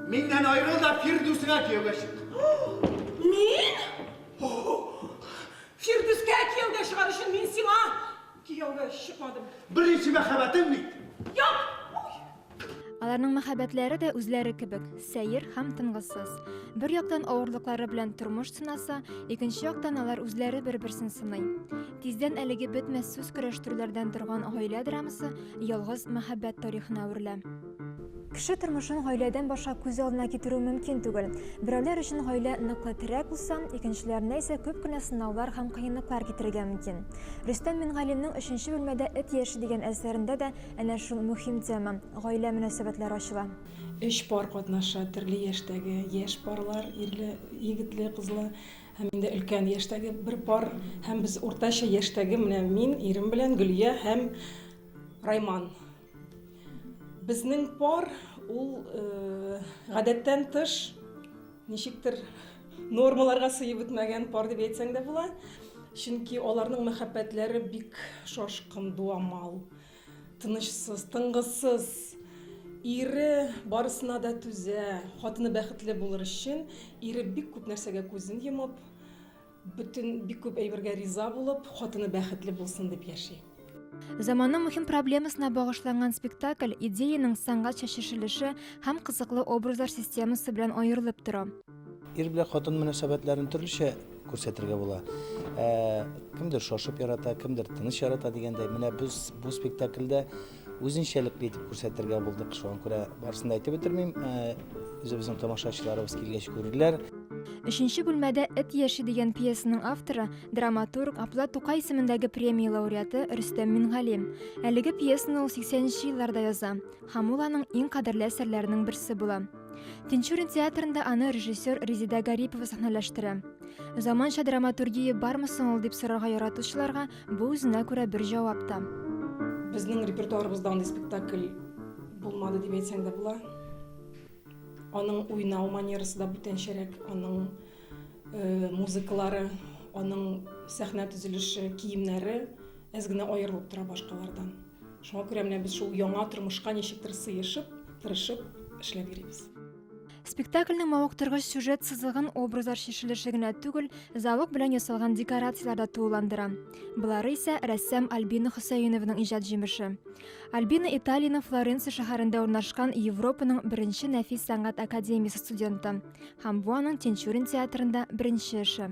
Миннән аерыл да Фирдүсеңә кияүгә чык. Мин? Фирдүскә кияүгә чыгар өчен мин сиңа кияүгә чыкмадым. Беренче мәхәббәтең бит. Як! Аларның мәхәббәтләре дә үзләре кебек, сәер һәм тынгысыз. Бер яктан авырлыклары белән тормыш сынаса, икенче яктан алар үзләре бер-берсен сыный. Тиздән әлеге бетмәс сүз көрәштерүләрдән торган гаилә драмасы ялгыз мәхәббәт тарихына әверелә. Кеше тормышын гаиләдән баша күз алдына китерү мөмкин түгел. Берәүләр өчен гаилә ныклы терәк булса, икенчеләренә исә күп кенә сынаулар һәм кыенлыклар китерергә мөмкин. Рөстәм Мингалимның өченче бүлмәдә эт яше дигән әсәрендә дә әнә шул мөһим тема, гаилә мөнәсәбәтләре ачыла. Өч пар катнаша, төрле яшьтәге, яшь парлар, ирле, егетле, кызлы һәм инде өлкән яшьтәге бер пар һәм без уртача яшьтәге, менә мин, ирем белән Гөлия һәм Райман. Безнең пар ул э, гадәттән тыш ничектер нормаларга сыеп бетмәгән пар дип әйтсәң дә була. Чөнки аларның мәхәббәтләре бик шашкын, дуамал, тынычсыз, тынгысыз. Ире барысына да түзә, хатыны бәхетле булыр өчен, ире бик күп нәрсәгә күзен йомып, Бөтен бик күп әйбергә риза булып, хатыны бәхетле булсын дип яши. Заманның мөһим проблемасына багышланган спектакль идеяның сәнгать чәчешелеше һәм кызыклы образлар системасы белән аерылып тора. Ир белән хатын мөнәсәбәтләрен төрлечә күрсәтергә була. Ә, кемдер шашып ярата, кемдер тыныч ярата дигәндәй, менә без бу спектакльдә үзенчәлекле итеп күрсәтергә булдык. Шуңа күрә барысын да әйтеп бетермим. Үзебезнең тамашачыларыбыз килгәч күрерләр. Өченче бүлмәдә эт яши дигән пьесаның авторы, драматург, Апла Тукай исемендәге премия лауреаты Рөстәм Мингали. Әлеге пьесаны ул 80-нче елларда яза һәм ул аның иң кадерле әсәрләренең берсе була. Тинчурин театрында аны режиссер Резида Гарипова сәхнәләштерә. Заманча драматургия бармы соң ул дип сорарга яратучыларга Бу үзенә күрә бер җавап та. Безнең репертуарыбызда андый спектакль булмады дип әйтсәң дә була. Аның уйнау манерасы да бүтәнчәрәк, аның э, музыкалары, аның сәхнә төзелеше, киемнәре әз генә аерылып тора башкалардан. Шуңа күрә менә без шул яңа тормышка ничектер сыешып, тырышып эшләп йөрибез. Спектакльнең мавыктыргыч сюжет сызыгын образлар шешелеше генә түгел, зәвык белән ясалган декорацияләр дә тулыландыра. Болары исә рәссам Альбина Хөсәеновның иҗат җимеше. Альбина Италиянең Флоренция шәһәрендә урнашкан Европаның беренче нәфис сәнгать академиясе студенты һәм бу аның Тинчурин театрында беренче эше.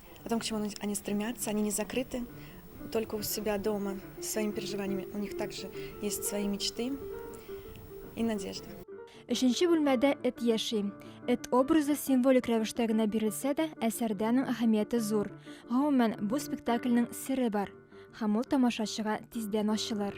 О том, к чему они стремятся, они не закрыты только у себя дома своими переживаниями. У них также есть свои мечты и надежды. Өченче бүлмәдә эт яши. Эт образы символик рәвештә генә бирелсә дә, әсәрдә аның әһәмияте зур. Гомумән, бу спектакльнең сере бар. Һәм ул тамашачыга тиздән ачылыр.